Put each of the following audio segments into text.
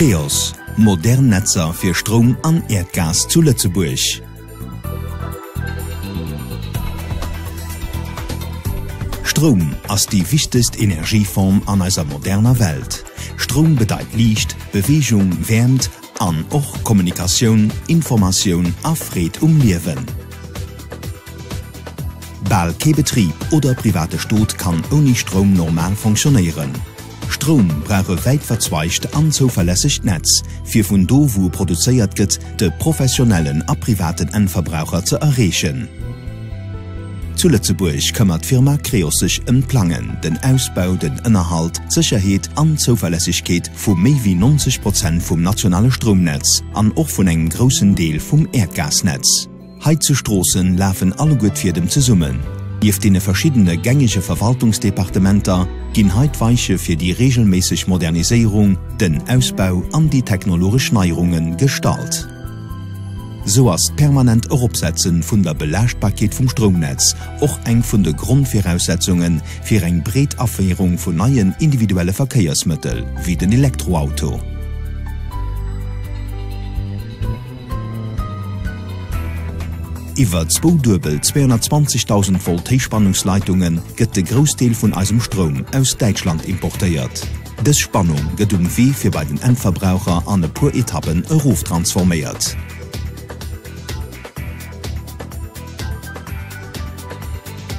Creos, modern Netzer fir Stroum an Äerdgas zu Lëtzebuerg. Stroum ass déi wichtegst Energieform an eiser moderner Welt. Stroum bedeit Liicht, Beweegung, Wäermt an och Kommunikatioun, Informatioun a Freed um Liewen. Bal kee Betrib oder private Stot kann ouni Stroum normal fonctionnéieren. Stroum brauch e wäitverzweigt an zouverlässegt Netz, fir vun do wou e produzéiert gëtt, de professionellen a privaten Endverbraucher ze erreechen. Zu Lëtzebuerg këmmert d'Firma Creos sech ëm d'Plangen, den Ausbau, den Ënnerhalt, d'Sécherheet an d'Zouverlässegkeet vu méi wéi 90 Prozent vum nationale Stroumnetz an och vun engem groussen Deel vum Äerdgasnetz. Hei zu Stroossen lafen alleguer d'Fiedem zesummen. Nieft deene verschiddene gängege Verwaltungsdepartementer ginn hei d'Weiche fir déi reegelméisseg Moderniséierung, den Ausbau an déi technologesch Neierunge gestallt. Sou ass d'permanent Eropsetze vun der Belaaschtbarkeet vum Stroumnetz och eng vun de Grondviraussetzunge fir eng breet Aféierung vun neien individuelle Verkéiersmëttel wéi den Elektroauto. Iwwer zwou duebel 220.000 Volt Héichspannungsleitunge gëtt de Groussdeel vun eisem Stroum aus Däitschland importéiert. Dës Spannung gëtt um Wee fir bei den Endverbraucher an e puer Etappen eroftransforméiert.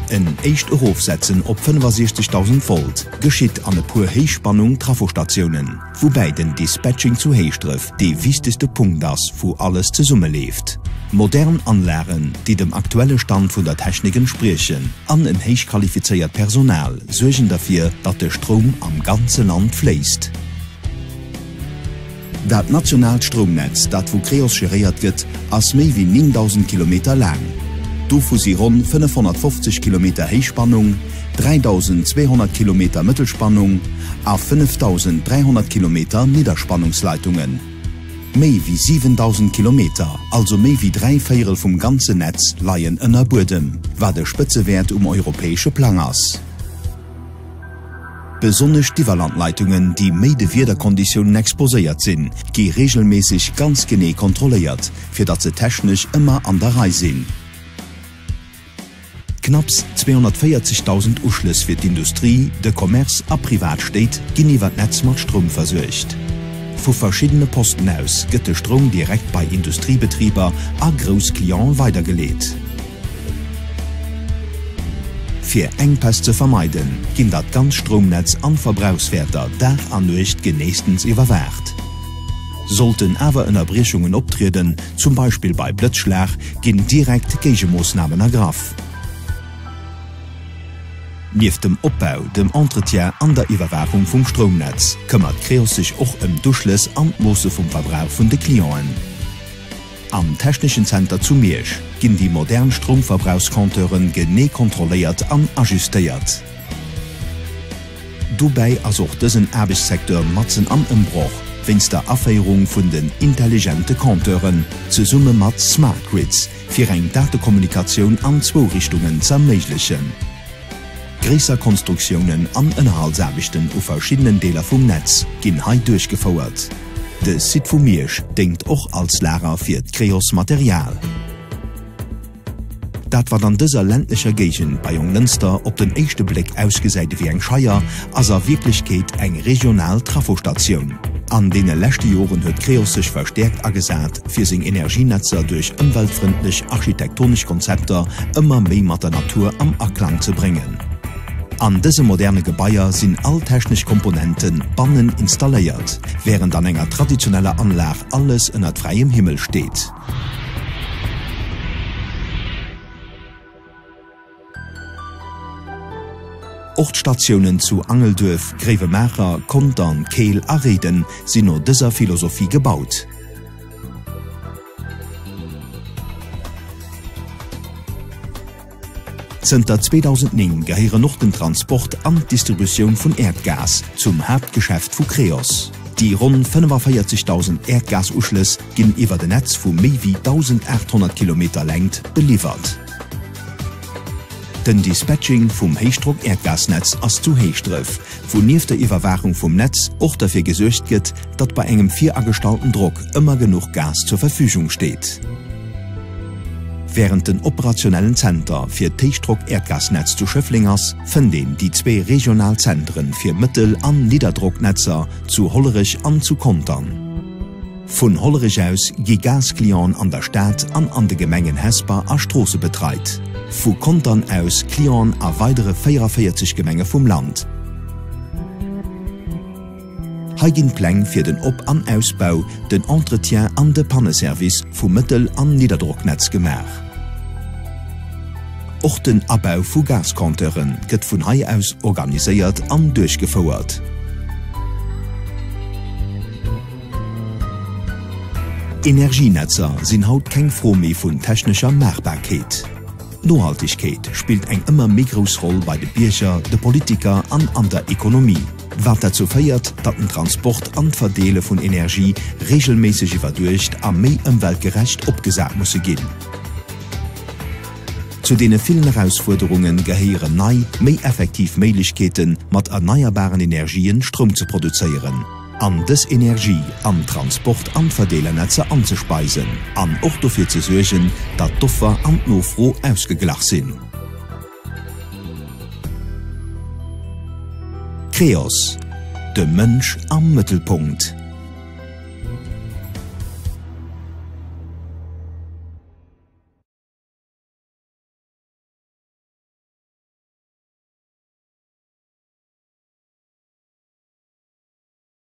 En éischt Erofsetzen op 65.000 Volt geschitt an e puer Héichspannung-Trafostatiounen. Woubäi den Dispatching zu Héischdref dee wichtegste Punkt ass, wou alles zesumme leeft. Modern Anlagen, déi dem aktuelle Stand vun der Technik entspriechen, an en héichqualifizéiert Personal suergen derfir, datt de Stroum am ganze Land fléisst. Dat nationaalt Stroumnetz, dat vu Creos geréiert gëtt, ass méi wéi 9.000 Kilometer laang. Dovu si ronn 550 Kilometer Héichspannung, 3.200 Kilometer Mëttelspannung a 5.300 Kilometer Nidderspannungsleitungen. Méi wéi 7.000 Kilometer, also méi wéi dräi Véierel vum ganzen Netz, leien ënner Buedem, wat e Spëtzewäert um europäesche Plang ass. Besonnesch d'Iwwerlandleitungen, déi méi de Wiederkonditiounen exposéiert sinn, gi reegelméisseg ganz genee kontrolléiert, fir datt se technesch ëmmer an der Rei sinn. Knapps 240.000 Uschlëss fir d'Industrie, de Commerce a privat Stéit ginn iwwer d'Netz mat Stroum versuergt. Vu verschiddene Posten aus gëtt de Stroum direkt bei Industriebetriber a grouss Clientë weidergeleet. Fir Enkpäss ze vermeiden, ginn dat ganz Stroumnetz an d'Verbrauchswäerter Dag a Nuecht geneestens iwwerwaacht. Sollten awer Ënnerbriechungen optrieden, zum Beispill bei Blëtzschlag, ginn direkt Géigemoossnamen ergraff. Nieft dem Opbau, dem Entretien an der Iwwerwaachung vum Stroumnetz, këmmert Creos sech och ëm d'Uschlëss an d'Moosse vum Verbrauch vun de Clienten. Am Techneschen Zenter zu Miersch ginn déi modern Stroumverbrauchscompteuren genee kontrolléiert an ajustéiert. Dobäi ass och dësen Aarbechtssecteur matzen am Ëmbroch wéinst der Aféierung vun den intelligente Compteuren zesumme mat Smart Grids, fir eng Datekommunikatioun an zwou Richtungen z'erméiglechen. Gréisser Konstruktiounen an Ënnerhaltsaarbechten u verschiddenen Deeler vum Netz ginn hei duerchgefouert. De Site vu Miersch déngt och als Lager fir d'Creos Material. Dat wat an dëser ländlecher Géigend bei Jonglënster op den éischte Bléck ausgesäit ewéi eng Scheier, ass a Wierklechkeet eng regional Trafostatioun. An deene leschte Joren huet Creos sech verstäerkt agesat, fir seng Energienetzer duerch ëmweltfrëndlech architektonesch Konzepter ëmmer méi mat der Natur am Aklang ze bréngen. An dëse moderne Gebaier sinn all technesch Komponente bannen installéiert, wärend an enger traditioneller Anlag alles ënnert fräiem Himmel steet. Och d'Statiounen zu Angelduerf, Gréiwemaacher, Contern, Keel a Réiden sinn no dëser Philosophie gebaut. Zënter 2009 gehéieren och den Transport an d'Distributioun vun Äerdgas zum Haaptgeschäft vu Creos. Déi ronn 45.000 Äerdgasuschlëss ginn iwwert e Netz vu méi wéi 1.800 Kilometer Längt beliwwert. Den Dispatching vum Héichdrock-Äerdgasnetz ass zu Héischdref, wou nieft der Iwwerwaachung vum Netz och derfir gesuergt gëtt, datt bei engem viragestallten Drock ëmmer genuch Gas zur Verfügung steet. Wärend den operationellen Zenter fir d'Héichdrock-Äerdgasnetz zu Schëffleng ass, fënnt een déi zwee regional Zenteren fir Mëttel an Nidderdrocknetzer zu Hollerech an zu Contern. Vun Hollerech aus gi Gas-Clienten an der Stad an an de Gemengen Hesper a Stroosse betreit, vu Contern aus Clienten a weidere 44 Gemenge vum Land. Hei ginn d'Pläng fir den Op an Ausbau, den Entretien an de Panne-Service vum Mëttel an Nidderdrocknetz gemaach. Och den Abau vu Gas-Compteure gëtt vun hei aus organiséiert an duerchgefouert. Energienetzer sinn haut keng Fro méi vun technescher Maachbarkeet. D'Nohaltegkeet spillt eng ëmmer méi grouss Roll bei de Bierger, de Politiker an an der Ekonomie, wat derzou féiert, datt den Transport an d'Verdeele vun Energie reegelméisseg iwwerduecht a méi ëmweltgerecht opgesat musse ginn. Zu deene villen Erausfuerderunge gehéieren nei, méi effektiv Méiglechkeete mat erneierbaren Energien Stroum ze produzéieren. an dës Energie an d'Transport an d'Verdeelernetzer anzespeisen an och dofir ze suergen, datt d'Offer an d'Nofro ausgeglach sinn. Creos, de Mënsch am Mëttelpunkt.